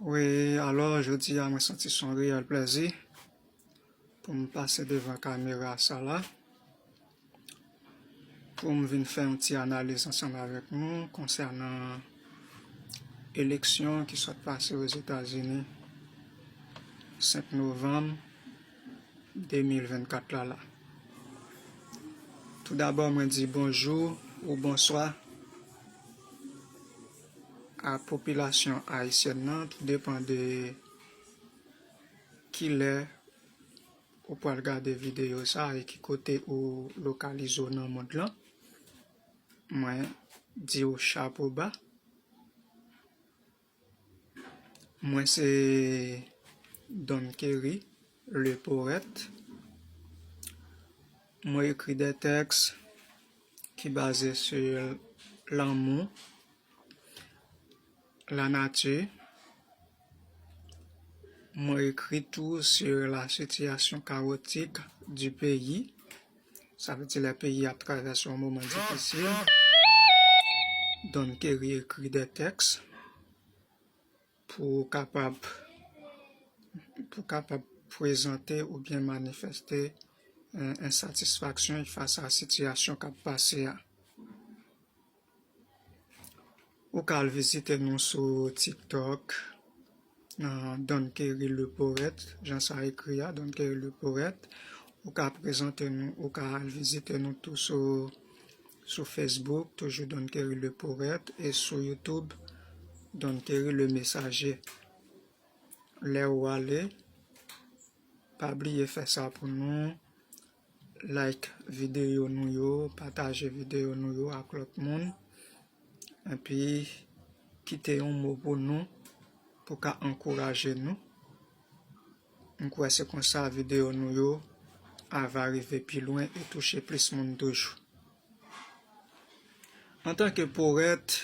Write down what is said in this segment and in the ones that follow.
Wi alò jodi a mwen santi son reyèl plèzi pou m pase devan kamera sa la pou m vin fè yon ti analiz ansanm avèk nou konsènan eleksyon ki sot pase o Zetazini 5 novanm 2024 la la tou dabò mwen di bonjou ou bonswa ak popilasyon ayisyèn nan tou depan de kilè ou pral gade videyo sa e ki kote ou lokalize w nan mond lan mwen di w chapo ba mwen se Don Kerry le porèt mwen ekri de tèks ki baze sou lanmou, lanati, mwen ekri tou sou la sitiyasyon kawotik di peyi, sa vle di lè peyi ap travèse yon moman difisil, Don Kerry ekri 2 tèks. Pou w kapab pou w kapab pwezante oubyen manifeste ensatisfaksyon y fas a sitiyasyon k ap pase a. Ou ka al vizite nou sou TikTok nan Don Kerry Le Poète, jan sa ekri a, Don Kerry Le Poète. Ou ka prezante nou, ou ka al vizite nou tou sou Sou Facebook, toujou Don Kerry Le Poète e sou YouTube, Don Kerry Le Messager. Lè ou ale, pa bliye fè sa pou nou, like videyo nou yo, pataje videyo nou yo ak lòt moun, epi kite yon mo pou nou pou ka ankouraje nou. M kwè se konsa videyo nou yo a va rive pi lwen e touche plis moun toujou. Antanke powèt,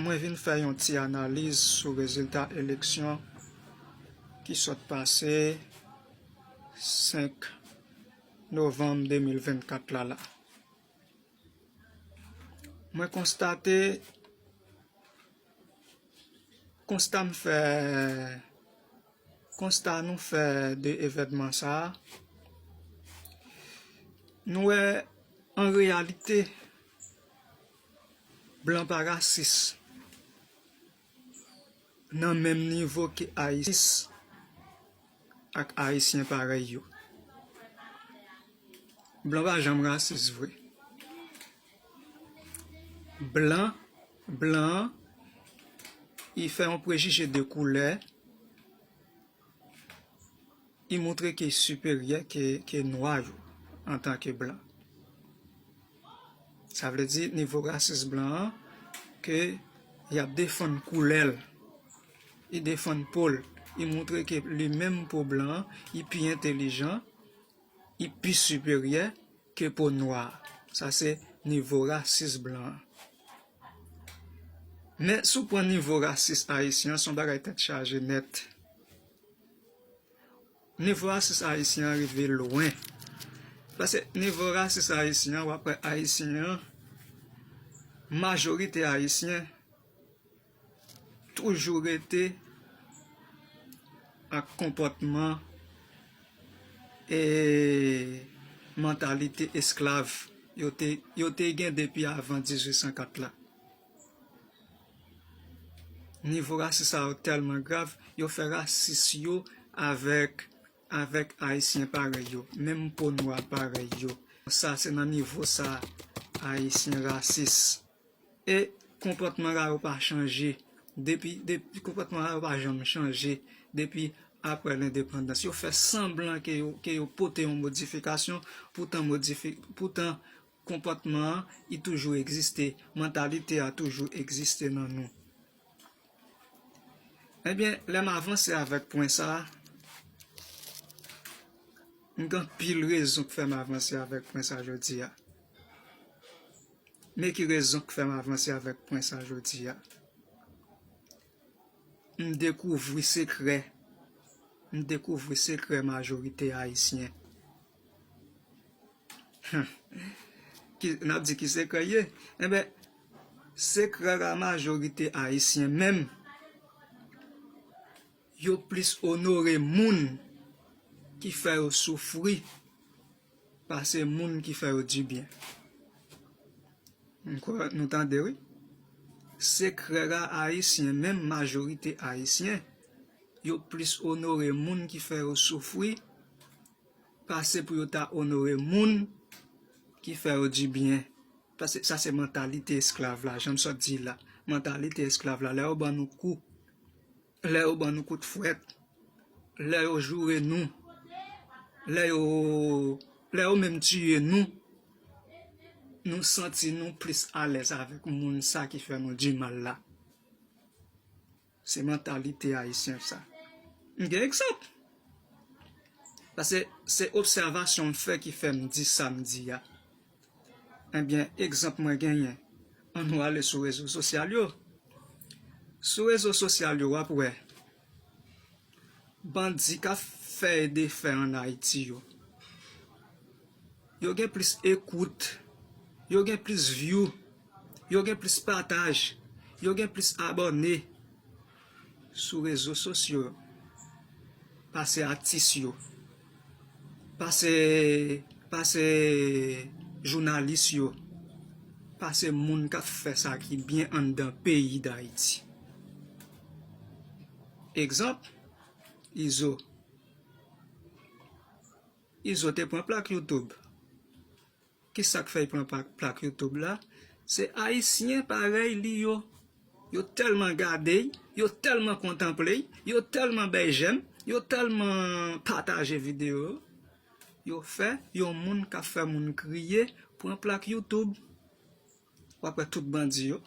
mwen vin fè yon ti analiz sou rezilta eleksyon ki sot pase 5 novanm 2024 la la. Mwen konstate, konsta m fè, Konsta nou fè de evènman sa a, nou wè an reyalite blan pa rasis nan menm nivo ke ayisyen ak ayisyen parèy yo. Blan pa janm rasis vre. Blan, blan, i fè yon prejije de koulè, i moutre ke siperyè ke nwa yo antan ke blan. Sa vle di nivo rasis blan an ke y ap defann koulè l, i defann po l, i moutre ke li menm pou blan, i pi entelijan I pi siperyè ke po nwa. Sa se nivo rasis blan an. Men si w pran nivo rasis ayisyen an, se yon bagay tèt chaje nèt. Nivo rasis ayisyen an rive lwen. Pase nivo rasis ayisyen an, w ap wè ayisyen an, majorite ayisyen, Toujou rete ak konpòtman e mantalite esklav yo te gen depi avan 1804 la. Nivo rasis sa yo tèlman grav, yo fè rasis yo avèk ayisyen parèy yo, menm po nwa parèy yo. Sa se nan nivo sa ayisyen rasis. E konpòtman ra yo pa chanje depi konpòtman ra yo pa janm chanje depi aprè lendepandans. Yo fè sanblan ke yo pote yon modifikasyon poutan konpòtman an i toujou egziste, mantalite a toujou egziste nan nou. Ebyen, lè m avanse avèk pwen sa, m gen anpil rezon k fè m avanse avèk pwen sa jodi a. Men ki rezon k fèm avanse avèk pwen sa jodi a. M dekouvri sekrè, m dekouvri sekrè majorite ayisyen. Nap di ki sekrè l ye? Enben, sekrè la majorite ayisyen menm yo plis onore moun ki fè yo soufri. Pase moun ki fè yo du byen. M kwè nou tande wi. Sekrè a ayisyen menm majorite ayisyen yo plis onore moun ki fè yo soufri pase pou yo ta onore moun ki fè yo du byen. Pase sa se mantalite esklav la janm sot di la. Mantalite esklav la lè yo ban nou kou. Lè yo ban nou kout fwèt, lè yo joure nou, lè yo lè yo menm tiye nou, nou santi nou plis alèz avèk moun sa ki fè nou di mal la. Se mantalite ayisyen sa. M gen egzanp. Pase se obsèvasyon m fè ki fè m di sa m di a. Ebyen egzanp mwen genyen an nou ale sou rezo sosyal yo sou rezo sosyal yo wap wè bandi kap fè e defè an ayiti yo yo gen plis ekout yo gen plis vyou yo gen plis pataj yo gen plis abòne Sou rezo sosyo yo. Pase atis yo. Pase pase jounalis yo. Pase moun k ap fè sa ki byen anndan peyi Dayiti. Egzanp, Izo. Izo te pran plak youtube. Kisak fèy pran plak YouTube la se ayisyen parèy li yo yo tèlman gadey yo tèlman kontanpley yo tèlman bèy jèm yo tèlman pataje video yo yo fè yon moun kap fè moun kriye pran plak YouTube wap wè tout bandi yo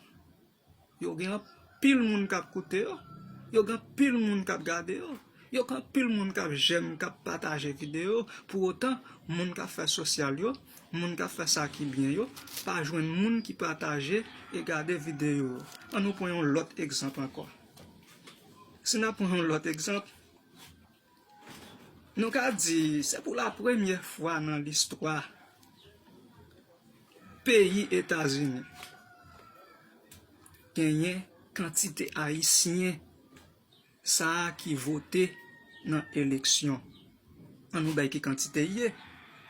Yo gen anpil moun kap koute yo, yo gen anpil moun kap gade yo, yo gen anpil moun kap jèm, kap pataje videyo yo, pou otan moun kap fè sosyal yo, moun kap fè sa ki byen yo, pa jwenn moun ki pataje e gade videyo yo. An nou pran yon lòt egzanp ankò, si nap pran yon lòt egzanp. Nou ka di se pou la premye fwa nan listwa peyi Etazini genyen kantite ayisyen sa a ki vote nan eleksyon. An nou bay ki kantite li ye.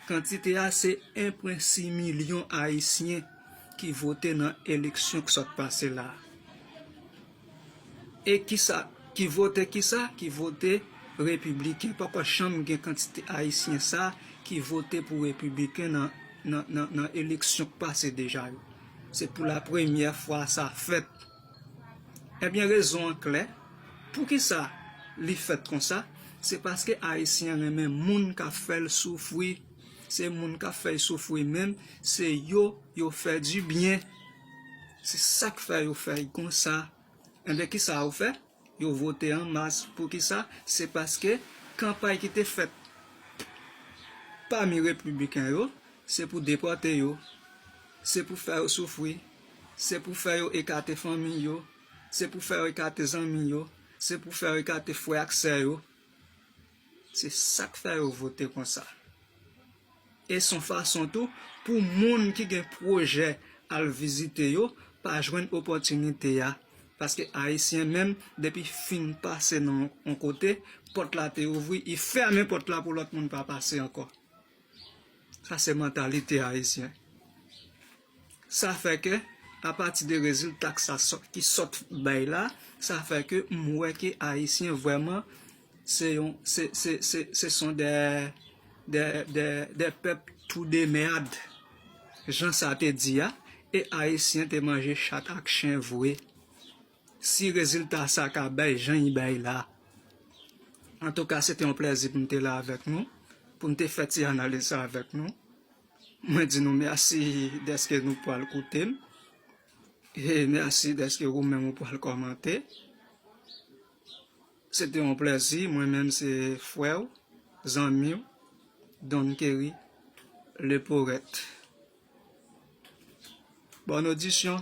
Kantite a se 1.6 milyon ayisyen ki vote nan eleksyon ki sot pase la. E kisa ki vote kisa ki vote repibliken poko janm gen kantite ayisyen sa ki vote pou repibiken nan eleksyon k pase deja yo se pou la premyè fwa sa fèt ebyen rezon an klè poukisa li fèt konsa se paske ayisyen renmen moun ka fèl soufri se moun ka fèy soufri menm se yo yo fè di byen. Se sak fè yo fè y konsa. Enben kisa yo fè? Yo vote an mas. Poukisa? Se paske kanpay ki te fèt pami repibiken yo, se pou depòte yo, se pou fè yo soufri, se pou fè yo ekate fanmiy yo, se pou fè yo ekate zanmi yo, se pou fè yo ekate frè ak sè yo. Se sak fè yo vote konsa. E son fason tou pou moun ki gen pwojè al vizite yo pa jwenn opòtinite a, paske ayisyen menm depi fin pase nan yon kote, pòt la te ouvri, i fèmen pòt la pou lòt moun pa pase ankò. Sa se mantalite ayisyen. Sa fè ke, apati de rezilta k sa sot, ki sot bay la, sa fè ke m wè ke Ayisyen vrèman se yon, se, se, se, se son dè, dè, dè, dè pèp trou de mèrrd, jan sa te di a, e Ayisyen te manje chat ak chen vwe. Si rezilta sa ka bay jan li bay la. Antouka, se te yon plèzi pou m te la avèk nou, pou m te fè ti analiz sa avèk nou. Mwen di nou mèsi dèske nou pwal koute m e mèsi dèske ou menm ou pwal kòmante. Se te yon plèzi, mwen menm se frè w, zanmi w, Don Kerry le Poète. Bòn odisyon!